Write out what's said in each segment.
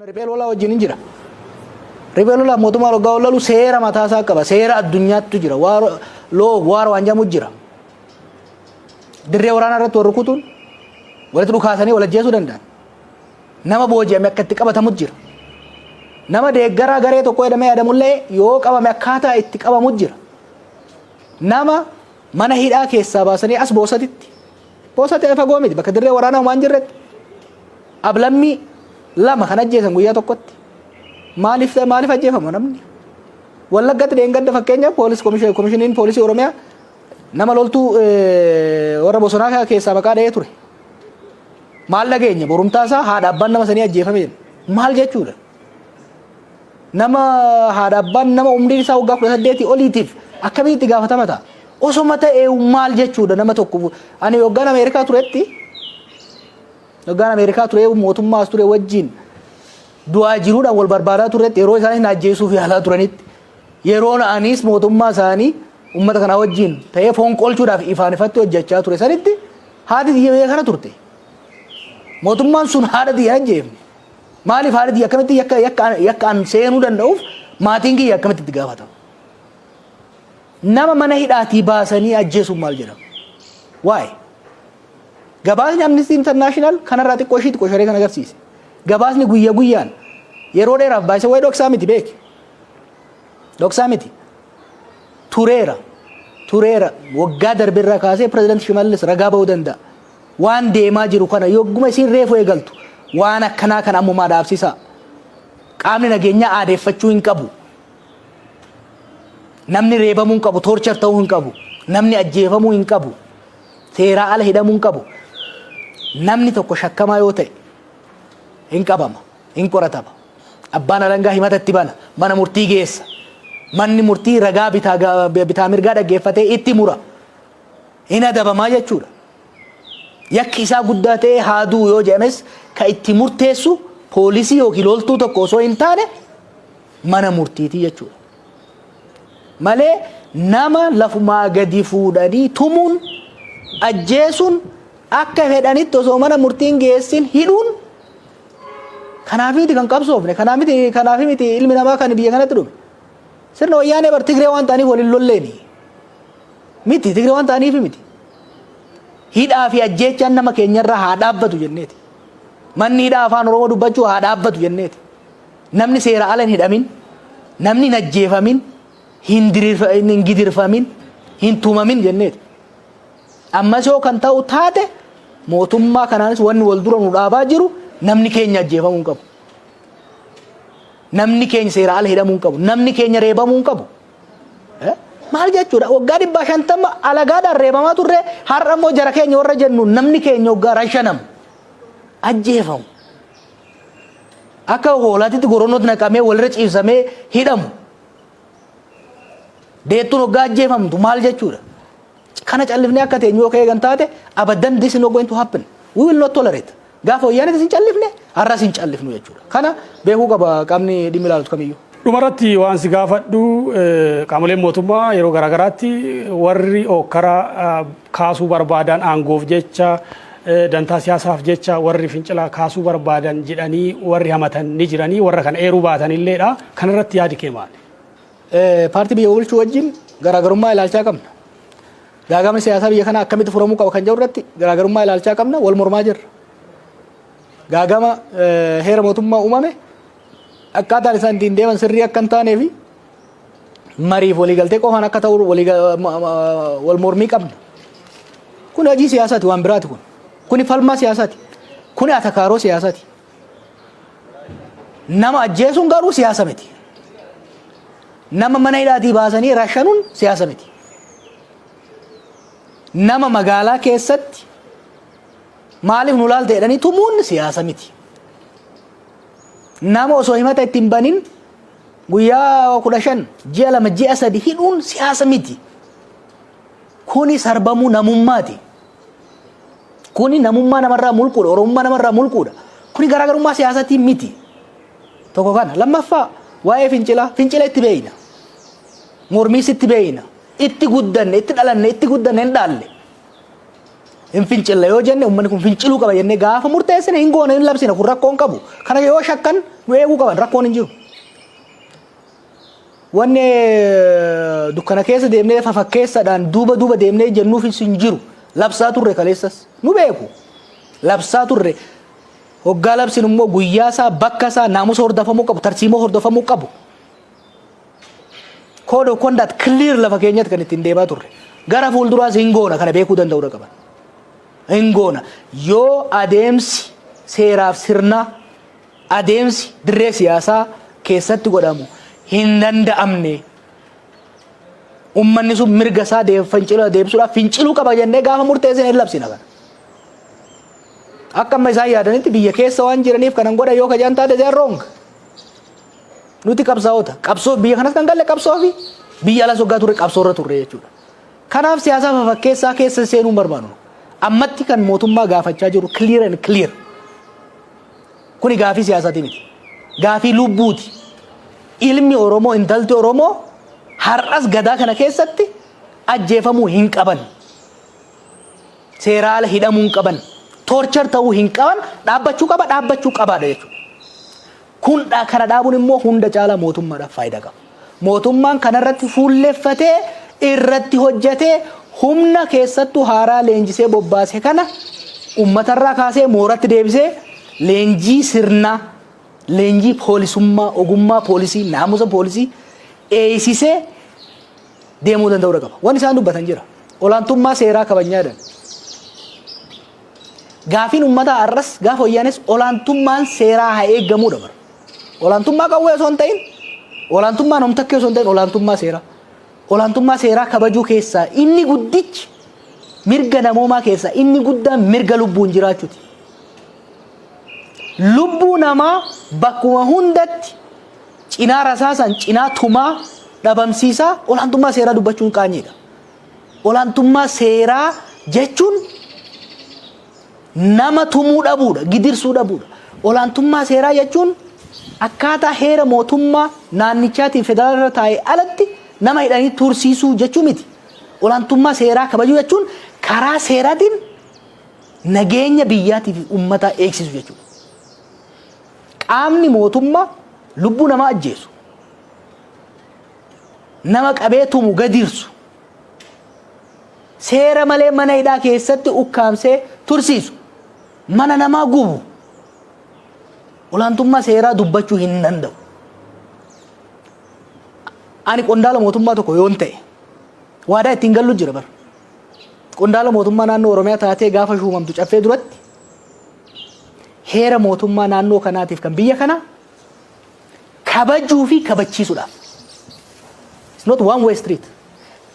Riphee lolaa wajjin hin jira. Riphee lolaa mootummaa waggaa olalu seera mataa isaa qaba. Seera addunyaattu jira. Loo waar waan jedhamu jira. Dirree waraanaa irratti wal rukutuun walitti dhukaasanii wal ajjeesuu danda'an. Nama booji'ame akka itti qabatamu jira. Nama deeggaraa garee tokko jedhamee yaadamullee yoo qabame akkaataa itti qabamu jira. Nama mana hidhaa keessaa baasanii as boosatitti Osa ta'e fagoo miti bakka dirree waraanaa homaa hin jirretti ablammii lama kan ajjeesan guyyaa tokkotti maaliif ta'e maaliif ajjeefama namni wallaggatti dheengadda fakkeenya poolis komishiniin poolisii oromiyaa nama loltuu warra bosonaa keessaa maqaa dha'ee ture maal dhageenya borumtaa isaa haadha abbaan nama sanii ajjeefame maal jechuudha Nama haadha abbaan nama umriin isaa waggaa kudha saddeetii oliitiif akkamitti itti gaafatama ta'a? Osoma ta'e maal jechuudha nama tokko ani waggaan Ameerikaa turetti waggaan Ameerikaa ture mootummaas ture wajjin du'aa jiruudhaan wal barbaadaa turetti yeroo isaan ajjeesuu fi haalaa turanitti yeroo anis mootummaa isaanii uummata kanaa wajjin ta'ee foon qolchuudhaaf ifaan ifatti hojjechaa ture sanitti haati xiyya biyya kana turte. Mootummaan sun haadha xiyya hin ajjeefne. Maaliif haala kiyya akkamitti yakka yakka yakka an seenuu danda'uuf maatiin kiyya akkamitti itti gaafatamu? Nama mana hidhaatii baasanii ajjeesuun maal jedhama? Waa'ee gabaasni Amnesty International kanarraa xiqqoo ishiitti qosharee kan agarsiise. Gabaasni guyya guyyaan yeroo dheeraaf baay'isa waa'ee dhoksaa miti beeki. Dhoksaa miti. Tureera. Tureera. Waggaa darbe irraa kaasee pirezidaanti Shimallis ragaa ba'uu danda'a. Waan deemaa jiru kana yogguma isiin reefu eegaltu waan akkanaa kana ammumaa dhaabsisaa. Qaamni nageenyaa aadeeffachuu hin qabu. Namni reebamuu hin qabu, toorchar ta'uu hin qabu. Namni ajjeefamuu hin qabu. Seeraa ala hidhamuu hin qabu. Namni tokko shakkamaa yoo ta'e hin qabama, hin qoratama. Abbaan alangaa himata itti bana, mana murtii geessa. Manni murtii ragaa bitaa, bitaa mirgaa dhaggeeffatee itti mura. hin adabama jechuu dha. Yakki isaa guddaa ta'ee haa du'u yoo jedhames ka itti murteessu poolisii yookiin loltuu tokko osoo hin taane mana murtiiti jechuu dha. Malee nama lafumaa gadi fuudhanii tumuun ajjeesuun akka fedhanitti osoo mana murtiin geessin hidhuun kanaaf miti kan qabsoofne kanaaf miti kanaaf miti ilmi namaa kan biyya kanatti dhume sirna wayyaanee bar tigree waan ta'aniif waliin lolleeni. Miti Tigre waan ta'aniif miti. Hidhaa fi ajjeechaan nama keenyarraa haa dhaabbatu jenneeti. Manni hidhaa afaan Oromoo dubbachuu haa dhaabbatu jenneeti. Namni seera ala hin hidhamin, namni hin ajjeefamin, hin dirirfa- hin hin gidirfamin, hin tumamin jenneeti. Ammas yoo kan ta'u taate mootummaa kanaanis wanni wal dura nu dhaabaa jiru namni keenya ajjeefamuu hin qabu. Namni keenya seera ala hidhamuu hin qabu. Namni keenya reebamuu hin qabu. Maal jechuudha? Waggaa dhibbaa shantama alagaadhaan reebamaa turre har'a immoo jara keenya warra jennu namni keenya waggaa rashanamu. Ajjeefamu. Akka hoolaatitti goronootti naqamee walirra ciibsamee hidhamu. Deettuun waggaa ajjeefamtu maal jechuudha? Kana callifnee akka teenyu yoo ka eegan taate, abaddan this is not going to happen. We will not tolerate. Gaafa Wayyaaneetis hin callifne, har'as hin callifnu jechuudha. Kana beekuu qaba qaamni dhimmi ilaalutu kamiyyuu. Dhumarratti waan si gaafadhu qaamoleen mootummaa yeroo garaagaraatti warri ookkara kaasuu barbaadan aangoof jecha dantaa siyaasaaf jecha warri fincila kaasuu barbaadan jedhanii warri hamatan ni jiranii warra kana eeruu baatanilleedha. Kanarratti yaadi kee maali? Paartii biyya bulchuu wajjin garaagarummaa ilaalchaa qabna. Gaagamni siyaasaa biyya kanaa akkamitti furamuu qaba kan jedhu irratti garaagarummaa ilaalchaa qabna wal mormaa jirra. Gaagama heera mootummaa uumame akkaataan isaan ittiin deeman sirrii akka hin taanee fi mariif waliigaltee qofaan akka ta'u wal mormii qabna. Kun hojii siyaasaati waan biraati kun. Kuni falmaa siyaasaati. Kuni atakaaroo siyaasaati. Nama ajjeesuun garuu siyaasa miti. Nama mana hidhaatii baasanii rashanuun siyaasa miti. Nama magaalaa keessatti maaliif nu laalta jedhanii tumuun siyaasa miti. Nama osoo himata itti hin banin guyyaa kudha shan ji'a lama ji'a sadi hidhuun siyaasa miti. Kuni sarbamuu namummaati. Kuni namummaa namarraa mulquudha, Oromummaa namarraa mulquudha. Kuni garaagarummaa siyaasatiin miti. Tokko kana. Lammaffaa waa'ee fincilaa, fincila itti beeyna. Mormiis itti beeyna. Itti guddanne, itti dhalanne, itti guddanne hin dhaalle. Hin fincilla yoo jenne uummanni kun finciluu qaba jennee gaafa murteessine hin goone hin labsina kun rakkoon qabu. Kana yoo shakkan nu eeguu qaban rakkoon hin jiru. Wanni dukkana keessa deemnee fafakkeessadhaan duuba duuba deemnee jennuufis hin jiru. Labsaa turre kaleessas. Nu beeku. Labsaa turre. Hoggaa labsin immoo guyyaa isaa, bakka isaa, naamusa hordofamuu qabu, tarsiimoo hordofamuu qabu. Code of conduct clear lafa keenyatti kan ittiin deemaa turre. Gara fuulduraas hin goona kana beekuu danda'uu irra qaban. Hin goona. Yoo adeemsi seeraaf sirnaa adeemsi dirree siyaasaa keessatti godhamu hin danda'amne. Ummanni sun mirga isaa fincila deebisuudhaaf finciluu qaba jennee gaafa murteessine hin labsina kana. Akka amma isaan yaadanitti biyya keessa waan jiraniif kanan godha yoo kajaan taate they are wrong. Nuti qabsaa'ota. Qabsoo biyya kanas kan galle qabsoo fi biyya alas waggaa turre qabsoo irra turre jechuudha. Kanaaf siyaasaa fafakkeessaa keessa seenuu hin barbaannu. Ammatti kan mootummaa gaafachaa jiru clear and clear. Kuni gaafii siyaasati miti. Gaafii lubbuuti. Ilmi Oromoo, intalti Oromoo har'as gadaa kana keessatti ajjeefamuu hin qaban. Seeraa ala hidhamuu hin qaban. Torchar ta'uu hin qaban. Dhaabbachuu qaba, dhaabbachuu qabaadha jechuudha. Kun kana dhaabuun immoo hunda caalaa mootummaadhaaf faayidaa qaba. Mootummaan kanarratti fuulleffatee irratti hojjetee humna keessattuu haaraa leenjisee bobbaase kana ummatarraa kaasee mooratti deebisee leenjii sirnaa leenjii poolisummaa ogummaa poolisii naamusa poolisii eeysisee deemuu danda'uudha qaba. Waan isaan dubbatan jira. Olaantummaa seeraa kabajnyaadhaan. Gaafiin ummataa arras gaafa wayyaanes olaantummaan seeraa haa eeggamuudha bara. Olaantummaa qawwee osoo hin ta'in olaantummaa namtakkee osoo hin ta'in olaantummaa seeraa. Olaantummaa seeraa kabajuu keessaa inni guddichi mirga namoomaa keessaa inni guddaan mirga lubbuun jiraachuuti. Lubbuu namaa bakkuma hundatti cinaa rasaasan cinaa tumaa dhabamsiisaa olaantummaa seeraa dubbachuun qaanyeedha. Olaantummaa seeraa jechuun nama tumuu dhabuudha, gidirsuu dhabuudha. Olaantummaa seeraa jechuun akkaataa heera mootummaa naannichaatiin federaala irra taa'e alatti nama hidhanii tursiisuu jechuu miti. Olaantummaa seeraa kabajuu jechuun karaa seeraatiin nageenya biyyaatii fi uummataa eegsisu jechuudha. Qaamni mootummaa lubbuu namaa ajjeesu, nama qabee tumu gadiirsu, seera malee mana hidhaa keessatti ukkaamsee tursiisu, mana namaa gubu, olaantummaa seeraa dubbachuu hin danda'u. Ani qondaala mootummaa tokko yoon ta'e waadaa ittiin gallu jira bara. Qondaala mootummaa naannoo Oromiyaa taatee gaafa shuumamtu caffee duratti heera mootummaa naannoo kanaatiif kan biyya kanaa kabajuu fi kabachiisudhaaf. It's not one way street.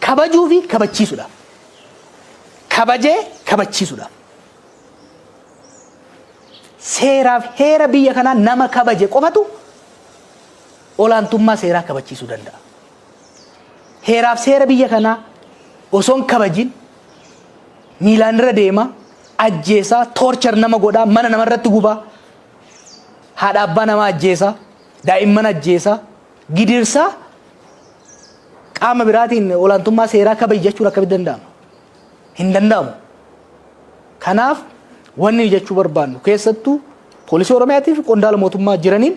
Kabajuu fi kabachiisudhaaf. Kabajee kabachiisudhaaf. Seeraaf heera biyya kanaa nama kabaje qofatu olaantummaa seeraa kabachiisuu danda'a. Heeraaf seera biyya kanaa osoo hin kabajin miilaan irra deema, ajjeesaa, toorchar nama godhaa, mana namarratti gubaa, haadha abbaa namaa ajjeesaa, daa'imman ajjeesaa, gidirsaa qaama biraatiin olaantummaa seeraa kabaji jechuun akkamitti danda'ama? Hin danda'amu. Kanaaf wanni jechuu barbaannu keessattuu poolisii Oromiyaatii fi qondaala mootummaa jiraniin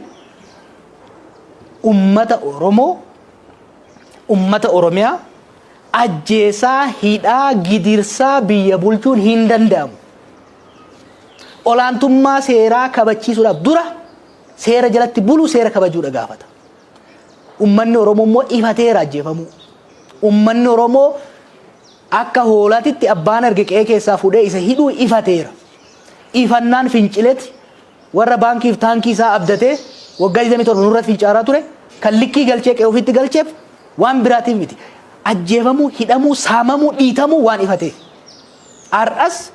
ummata Oromoo ummata Oromiyaa ajjeesaa, hidhaa, gidirsaa biyya bulchuun hin danda'amu. olaantummaa seeraa kabachiisuudhaaf dura seera jalatti bulu seera kabajuudha gaafata. Ummanni Oromoo immoo ifateera ajjeefamuu. Ummanni Oromoo akka hoolaatitti abbaan arge qe'ee keessaa fuudhee isa hidhuu ifateera. Ifannaan fincileti warra baankiif taankii isaa abdatee waggaa 27 nurratti fincaaraa ture kan likkii galchee qe'ee ofiitti galcheef waan biraatiif miti. Ajjeefamuu, hidhamuu, saamamuu, dhiitamuu waan ifatee. Har'as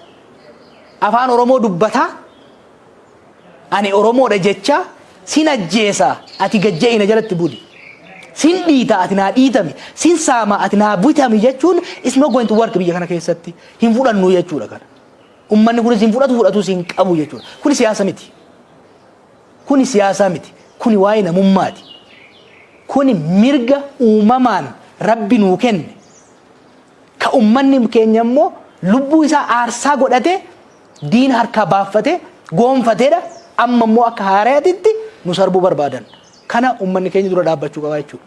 Afaan Oromoo dubbataa, ani Oromoodha jechaa, sin ajjeesa ati gad je'i na jalatti buli, sin dhiita ati naa dhiitami, sin saama ati naa bitami jechuun it's not going to work biyya kana keessatti. Hin fudhannu jechuudha kana. Ummanni kunis hin fudhatu fudhatus hin qabu jechuudha. Kuni siyaasa miti. Kuni siyaasaa miti. Kuni waa'ee namummaati. Kuni mirga uumamaan rabbi nuu kenne. Ka ummanni keenya immoo lubbuu isaa aarsaa godhatee diina harkaa baaffate, goonfateedha. Amma immoo akka haarayatitti nu sarbuu barbaadan. Kana ummanni keenya dura dhaabbachuu qaba jechuudha.